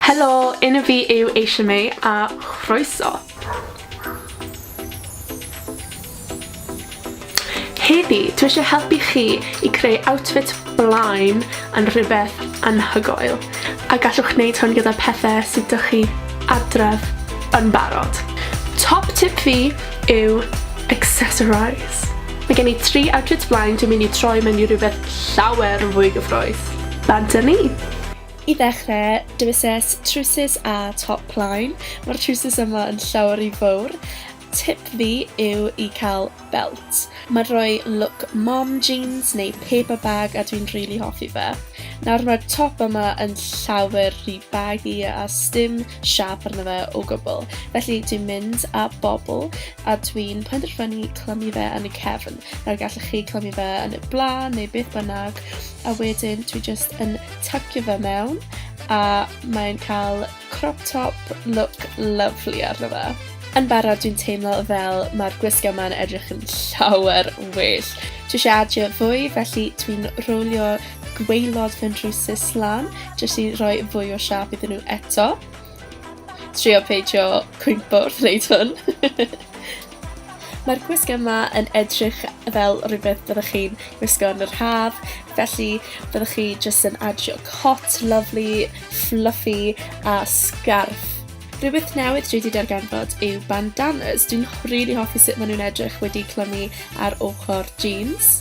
Helo, enw fi yw Eisha May a chroeso. Heddi, dwi eisiau helpu chi i creu outfit blaen yn rhywbeth anhygoel, a gallwch wneud hwn gyda pethau sydd dych chi adref yn barod. Top tip fi yw accessorise. Mae gen i tri outfit blaen dwi'n mynd i troi mewn i rhywbeth llawer fwy gyffroes. Bant a ni! I ddechrau, dewisais trowsus a top plaen, mae'r trowsus yma yn llawer rhy fawr. Tip fi yw i cael belt. Mae'n rhoi look mom jeans neu paper bag a dwi'n rili hoffi fe. Nawr mae'r top yma yn llawer rhy baggy a sdim siap arno fe o gwbl, felly dwi'n mynd â bobl a dwi'n penderfynu clymu fe yn y cefn. Nawr gallwch chi clymu fe yn y blaen neu beth bynnag a wedyn dwi jyst yn tacio fe mewn a mae'n cael crop top look lovely arno fe. Yn barod dwi'n teimlo fel mae'r gwisg yma'n edrych yn llawer well. Dwi eisiau adio fwy felly dwi'n rowlio gweilod fy nhrwsus lan jyst i roi fwy o siap iddyn nhw eto. trio peidio cwympo wrth wneud hwn. Mae'r gwisg yma yn edrych fel rhywbeth byddwch chi'n gwisgo yn yr haf, felly byddwch chi jyst yn adio cot lovely, fluffy a scarf. Rhywbeth newydd dwi wedi darganfod yw bandanas. Dwi'n rili really hoffi sut maen nhw'n edrych wedi clymu ar ochr jeans.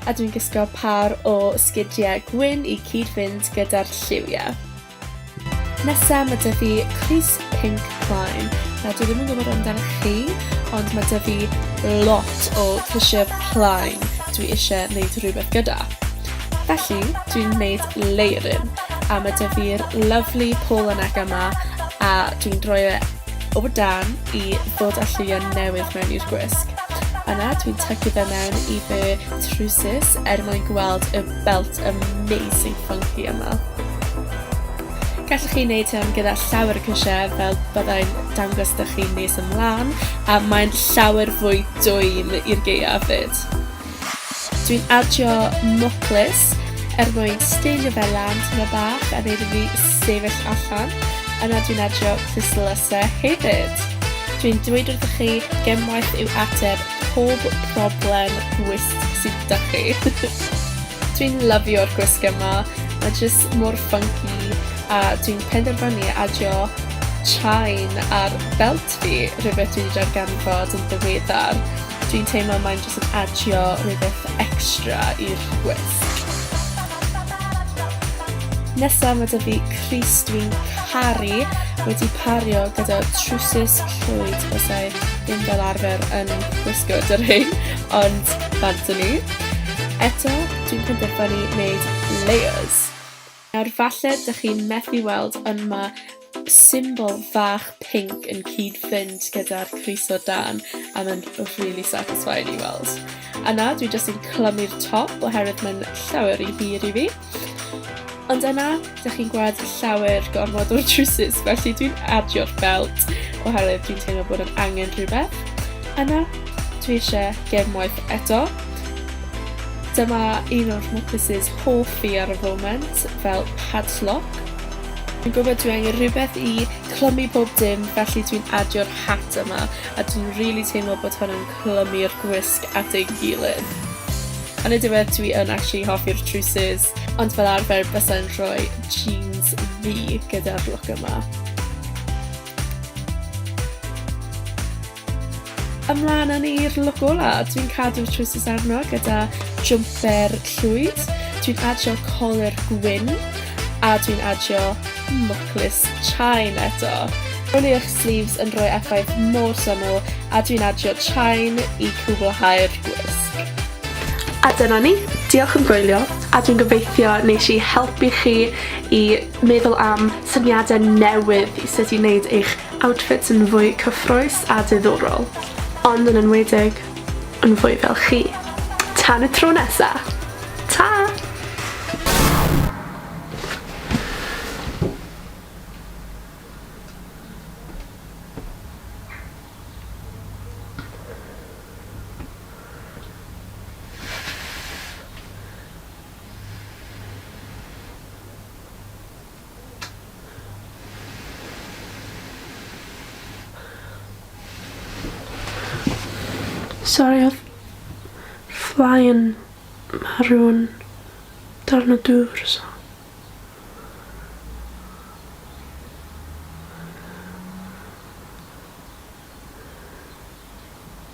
A dwi'n gysgo par o sgidiau gwyn i cyd-fynd gyda'r lliwiau. Nesa mae dyfu fi Chris Pink Prime. Na, dwi ddim yn gwybod amdano chi, ond mae dyfu fi lot o Fisher Plaen dwi eisiau gwneud rhywbeth gyda. Felly, dwi'n gwneud leiryn, a mae dyfu'r lovely Paul Anega yma, a dwi'n droi e o dan i ddod â lliwiau newydd mewn i'r gwisg. Yna, dwi'n tygu fe mewn i fy trwsus er mwyn gweld y belt amazing funky yma. Gallwch chi wneud hyn gyda llawer o cysiau fel byddai'n dangos dych chi'n nes ymlaen a mae'n llawer fwy dwym i'r geia fyd. Dwi'n adio moclus er mwyn steilio fe lan tyma bach a neud i fi sefyll allan, yna dwi'n adio clustlyse hefyd. Dwi'n dweud wrthych chi, gemwaith yw ateb pob problem gwist sydd da chi. dwi'n lyfio'r gwisg yma, mae jyst mor funky a dwi'n penderfynu adio chain ar belt fi, rhywbeth dwi wedi darganfod yn ddiweddar. Dwi'n teimlo mae'n jyst yn adio rhywbeth extra i'r gwisg. Nesa mae dyfu Cris dwi'n caru wedi pario gyda trwsus llwyd bysau ddim fel arfer yn gwisgo dy rhain, ond fanto ni. Eto, dwi'n penderfynu wneud layers. Nawr falle dych chi'n methu weld ond ma' symbol fach pinc yn cyd-fynd gyda'r crys o dan a ma'n rili satisfying i weld. A nawr dwi jyst yn clymu'r top oherwydd ma'n llawer rhy hir i fi. Ond yna, dych chi'n gweld llawer gormod o'r trwsus, felly dwi'n adio'r belt oherwydd dwi'n teimlo bod yn angen rhywbeth. Yna, dwi eisiau gefn waith eto. Dyma un o'r Mopus's hoff fi ar y foment fel padlock. Dwi'n gwybod dwi angen rhywbeth i clymu pob dim felly dwi'n adio'r hat yma a dwi'n really teimlo bod hwn yn clymu'r gwisg at ei gilydd. Yn y diwedd dwi yn actually hoffi'r trwsus, ond fel arfer bysau'n rhoi jeans fi gyda'r look yma. Ymlaen â ni'r look ola, dwi'n cadw'r trwysus arno gyda jumper llwyd, dwi'n adio colur gwyn, a dwi'n adio mwclis chain eto. Ro'n i eich sleeves yn rhoi effaith mor syml a dwi'n adio chain i cwblhau'r gwisg. A dyna ni, diolch am gwylio a dwi'n gobeithio nes i helpu chi i meddwl am syniadau newydd i sut i wneud eich Outfits yn fwy cyffrous a diddorol, ond yn enwedig yn fwy fel chi. Tan y tro nesa! Ta! Sori oedd fly yn marw'n darn o dŵr so.